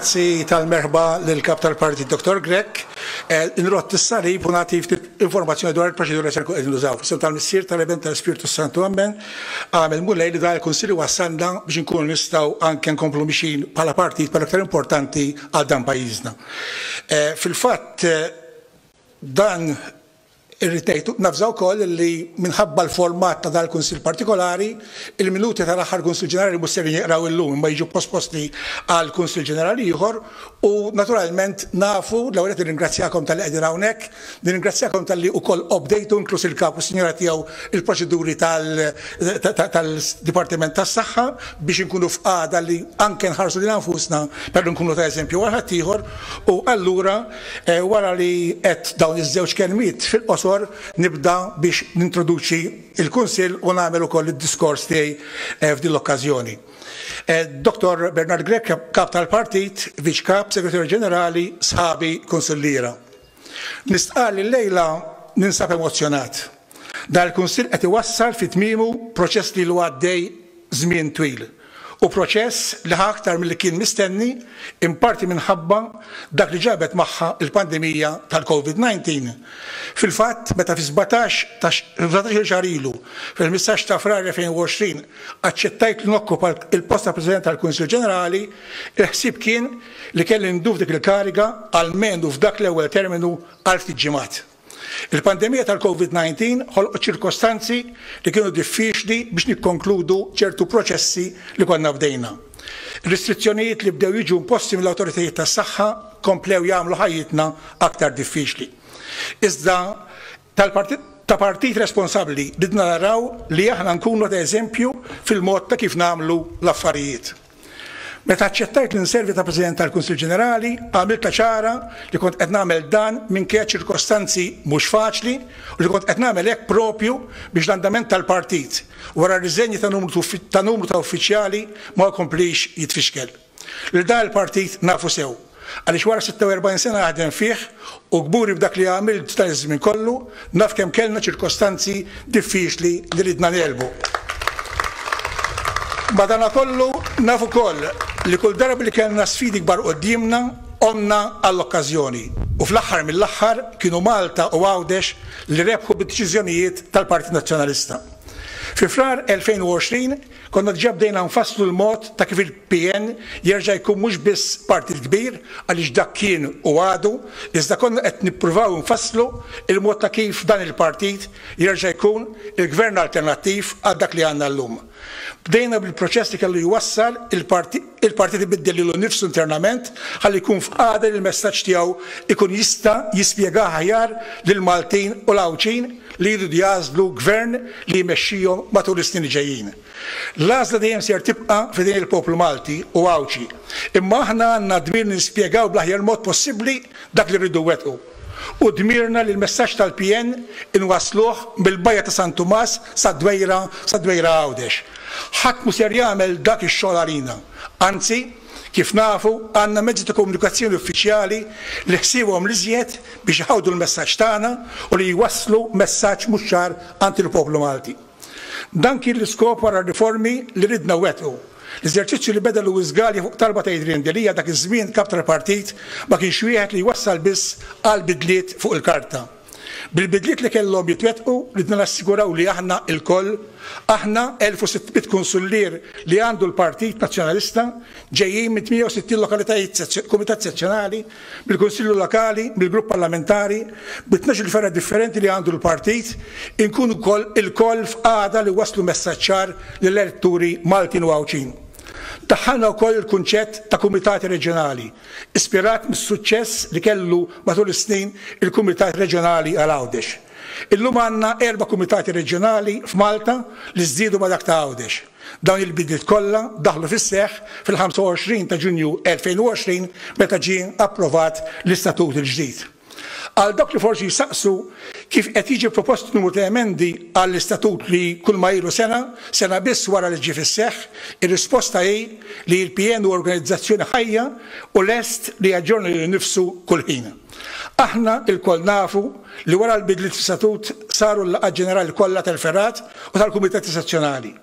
Grazzi tal-merħba lill-Kap tal-Partit Dottor Grech. Inrott is-salib u nagħti ftit informazzjoni dwar il-proċedura li se nkunu qegħdin nużaw. F'isem tal-Missier, tal-Ib, u tal-Ispirtu s-Santu, ammen. Qam il-Mulej li dan il-Kunsill iwassalna biex inkunu nistgħu anke nkomplu mixjin bħala Partit ma' l-iktar importanti għal dan pajjiżna. Fil-fatt, dan Irrid ngħid, navża wkoll li minħabba l-format ta' dan il-Kunsill partikolari, il-minuti tal-aħħar Kunsill Ġenerali mhux ser jinqraw illum imma jiġu posposti għal Kunsill Ġenerali ieħor u naturalment nafu, l-ewwel nett nirringrazzjakom talli qegħdin hawnhekk, nirringrazzjakom talli wkoll qobdejtu, inkluż il-Kap u s-Sinjura tiegħu, il-proċeduri tal-Dipartiment tas-Saħħa biex inkunu f'qagħda li anke nħarsu lilna nfusna, però nkunu ta' eżempju għal ħaddieħor u allura, Wara li għedt dawn iż-żewġ kelmiet fil-qosor, nibda biex nintroduċi l-Kunsill u nagħmel ukoll id-diskors tiegħi f'din l-okkażjoni. Dottor Bernard Grech, Kap tal-Partit, Viċ Kap, Segretarju Ġenerali, sħabi, Kunsilliera. Nistqarr li llejla ninsab emozzjonat. Dan il-Kunsill qed iwassal fi tmiemu proċess li ilu għaddej żmien twil u proċess li ħa aktar milli kien mistenni in parti minħabba dak li ġabet magħha l-pandemija tal-Covid 19. Fil-fatt meta fi sbatax il xahar ilu, fil-ħmistax ta' Frar 2020, aċċettajt li nokkupa l-post ta' President tal-Kunsill Ġenerali, il-ħsieb kien li kelli ndur dik il-kariga almenu f'dak l-ewwel terminu għal ftit ġimgħat. Il-pandemija tal-Covid 19 ħolqot ċirkostanzi li kienu diffiċli biex nikkonkludu ċertu proċessi li konna bdejna. Ir-restrizzjonijiet li bdew jiġu imposti mill-awtoritajiet tas-saħħa komplew jagħmlu ħajjitna aktar diffiċli. Iżda tal-Partit ta' partit responsabbli ridna naraw li aħna nkunu ta' eżempju fil-mod ta' kif nagħmlu l-affarijiet. Meta aċċettajt li nservi ta' President tal-Kunsill Ġenerali, għamiltha ċara li kont qed nagħmel dan minkejja ċirkostanzi mhux faċli u li kont qed nagħmel hekk proprju biex l-andament tal-Partit, wara r-riżenji ta' numru ta' uffiċjali, ma jkomplix jitfixkel. Lil dan il-Partit nafu sew. Għaliex wara 46 sena naħdem fih u kburi b'dak li għamilt f'dan iż-żmien kollu, naf kemm kellna ċirkostanzi diffiċli li ridna negħlbu. Madanakollu naf ukoll li kull darba li kellna sfidi kbar quddiemna, għomna għall-okkażjoni. U fl-aħħar mill-aħħar kienu Malta u Għawdex li rebħu bid-deċiżjonijiet tal-Partit Nazzjonalista. Fi Frar 2020 Konna diġà bdejna nfasslu l-mod ta' kif il-PN jerġa' jkun mhux biss partit kbir, għaliex dak kien u għadu, iżda konna qed nippruvaw nfasslu l-mod ta' kif dan il-partit jerġa' jkun il-Gvern alternattiv għal dak li għandna llum. Bdejna bil-proċess li kellu jwassal il-Partit. il-Partit ibiddel lilu nnifsu internament ħalli jkun f'qagħda li l-messaġġ tiegħu jkun jista' jispjegah aħjar lill-Maltin u l-Għawdxin li jridu jagħżlu Gvern li jmexxihom matul is-snin li ġejjin. L-għażla dejjem ser tibqa' f'idejn il-poplu Malti u Għawdxi, imma aħna għandna d-dmir li nispjegaw bl-aħjar mod possibbli dak li rridu nwettqu. Hu dmirna li l-messaġġ tal-PN inwassluh mill-Bajja ta' San Tumas sad-Dwejra, sad-Dwejra Għawdex. Ħadd mhu ser jagħmel dak ix-xogħol għalina. Anzi, kif nafu, għandna mezzi ta' komunikazzjoni uffiċjali li ħsiebhom l-iżjed biex iħawdu l-messaġġ tagħna u li jwasslu messaġġ mhux ċar għand il-poplu Malti. Dan kien l-iskop wara r-riformi li ridna nwettqu. L-eżerċizzju li beda Louis Galea fuq talba ta' Adrian Delia dak iż-żmien Kap tal-Partit ma kienx wieħed li jwassal biss għal bidliet fuq il-karta. Bil-bidliet li kellhom jitwettqu ridna nassiguraw li aħna lkoll, aħna 1600 kunsullier li għandu l-Partit Nazzjonalista ġejjin minn 68 lokalitajt Kumitat Sezzjonali, bil-Kunsillu Lokali, bil-Grupp Parlamentari, bi tnax-il fergħa differenti li għandu l-Partit, inkunu wkoll ilkoll f'qagħda li wasslu messaġġ ċar lill-eletturi Maltin u Għawdxin. Daħħalna wkoll il-kunċett ta' Kumitati Reġjonali, ispirat mis-suċċess li kellu matul is-snin il-Kumitat Reġjonali għal Għawdex. Illum għandna erba' Kumitati Reġjonali f'Malta li żdiedu ma' dak ta' Għawdex. Dawn il-bidliet kollha daħlu fis-seħħ fil-25 ta' Ġunju 2020 meta ġie approvat l-Istatut il-ġdid. Għal dawk li forsi jsaqsu kif qed jiġi propost numru ta' emendi għall-Istatut li kulma ilu sena, sena biss wara li ġie fis-seħħ, ir-risposta hi li l-PN hu organizzazzjoni ħajja u lest li jaġġorna lilu nnifsu kull ħin. Aħna lkoll nafu li wara l-bidliet fl-Istatut saru l-laqgħat ġenerali kollha tal-fergħat u tal-kumitati sezzjonali.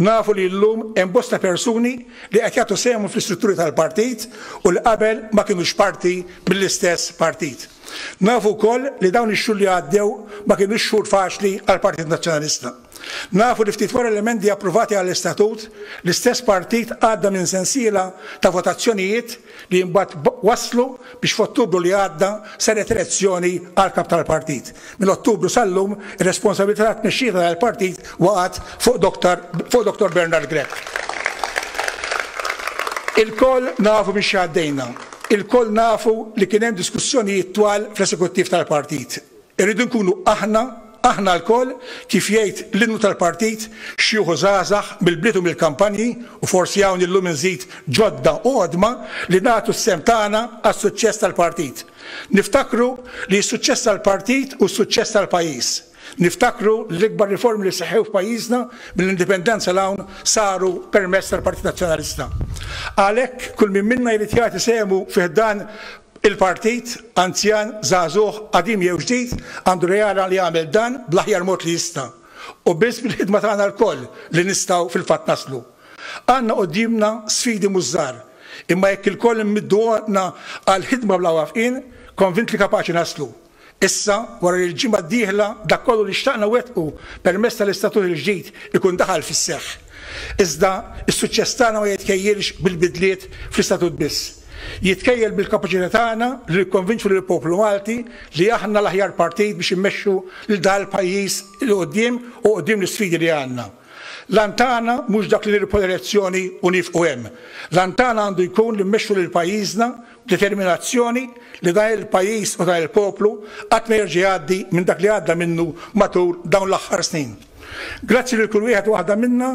Nafu li llum hemm bosta persuni li qed jagħtu sehemhom fl-istrutturi tal-partit u li qabel ma kinux parti mill-istess partit. Nafu wkoll li dawn ix-xhur li għaddew ma kinux xhur faċli għall-Partit Nazzjonalista. Nafu li ftit wara l-emendi approvati għall-Istatut, l-istess partit għadda minn sensiela ta' votazzjonijiet li imbagħad wasslu biex f'Ottubru li għadda saret elezzjoni għall-Kap tal-Partit. Minn Ottubru sal-lum, ir-responsabilità tat-tmexxija ta' dan il-partit waqgħet fuq Dottor fuq Dottor Bernard Grech. Ilkoll nafu minn xi għaddejna. Ilkoll nafu li kien hemm diskussjonijiet twal fl-esekuttiv tal-partit. Irridu nkunu aħna, aħna lkoll, kif jgħid l-innu tal-partit, xjuħ u żgħażagħ, mill-bliet u mill-kampanji, u forsi hawn illum inżid ġodda u qodma, li nagħtu s-sehem tagħna għas-suċċess tal-partit. Niftakru li s-suċċess tal-partit hu s-suċċess tal-pajjiż. Niftakru li l-ikbar riformi li seħħew f'pajjiżna mill-Indipendenza 'l hawn saru permezz tal-Partit Nazzjonalista. Għalhekk kull min minna jrid jagħti sehemu fi ħdan Il-Partit, anzjan, żagħżugħ, qadim jew ġdid, għandu reala li jagħmel dan bl-aħjar mod li jista'. Hu biss bil-ħidma tagħna lkoll li nistgħu fil-fatt naslu. Għandna quddiemna sfidi mhux żgħar, imma jekk ilkoll immiddu għotna għall-ħidma bla waqfien, konvint li kapaċi naslu. Issa, wara li l-ġimgħa d-dieħla dak kollu li xtaqna wettqu permezz tal-Istatut il-ġdid ikun daħal fis-seħħ. Iżda, is-suċċess tagħna ma jitkejjilx bil-bidliet fl-Istatut biss. Jitkejjel bil-kapaċità tagħna li nikkonvinċu lill-poplu Malti li aħna l-aħjar partit biex immexxu lil dan il-pajjiż 'il quddiem u quddiem l-isfidi li għandna. L-għan tagħna mhux dak li nirbħu l-elezzjoni u niefqu hemm. L-għan tagħna għandu jkun li mmexxu lil pajjiżna determinazzjoni li dan il-pajjiż u dan il-poplu qatt ma jerġa' jgħaddi minn dak li għadda minnu matul dawn l-aħħar snin. Grazzi lil kull wieħed u waħda minna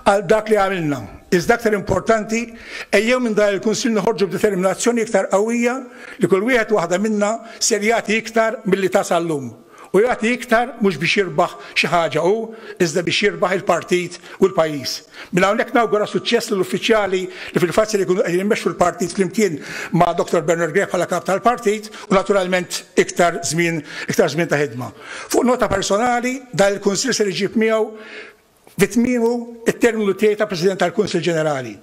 għal dak li għamilna, iżda aktar importanti ejjew minn dan il-Kunsill noħorġu b'determinazzjoni iktar qawwija li kull wieħed u waħda minna ser jagħti iktar milli ta sal-lum. u jagħti iktar mhux biex jirbaħ xi ħaġa hu iżda biex jirbaħ il-partit u l-pajjiż. Minn hawnhekk nawgura suċċess lill-uffiċjali li fil-fatt ser ikunu qegħdin imexxu l-partit flimkien ma' Dottor Bernard Grech bħala Kap tal-Partit u naturalment iktar żmien iktar żmien ta' ħidma. Fuq nota personali, dan il-Kunsill ser iġib miegħu Fi tmiemu t-terminu tiegħi ta' President tal-Kunsill Ġenerali,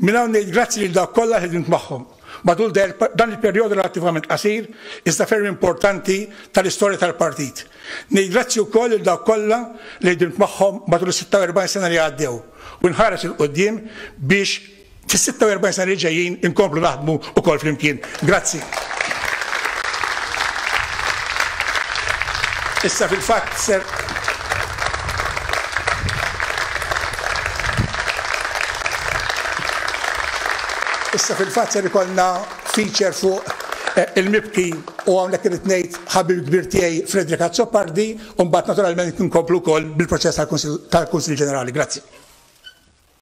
minn hawn ngħid grazzi lil dawk kollha li ħdimt magħhom matul dan il-perjodu relattivament qasir iżda ferm importanti tal-istorja tal-Partit. Ngħid grazzi wkoll lil dawk kollha li ħdimt magħhom matul is-46 sena li għaddew u nħares 'il quddiem biex Fis-46 sena li ġejjin inkomplu naħdmu wkoll flimkien. Grazzi. Issa fil-fatt ser Issa fil-fatt ser ikollna feature fuq eh, il-mibki u hawnhekk irid ngħid ħabib kbir tiegħi Frederick Azzopardi u mbagħad naturalment nkomplu wkoll bil-proċess tal-Kunsill Ġenerali. Grazzi.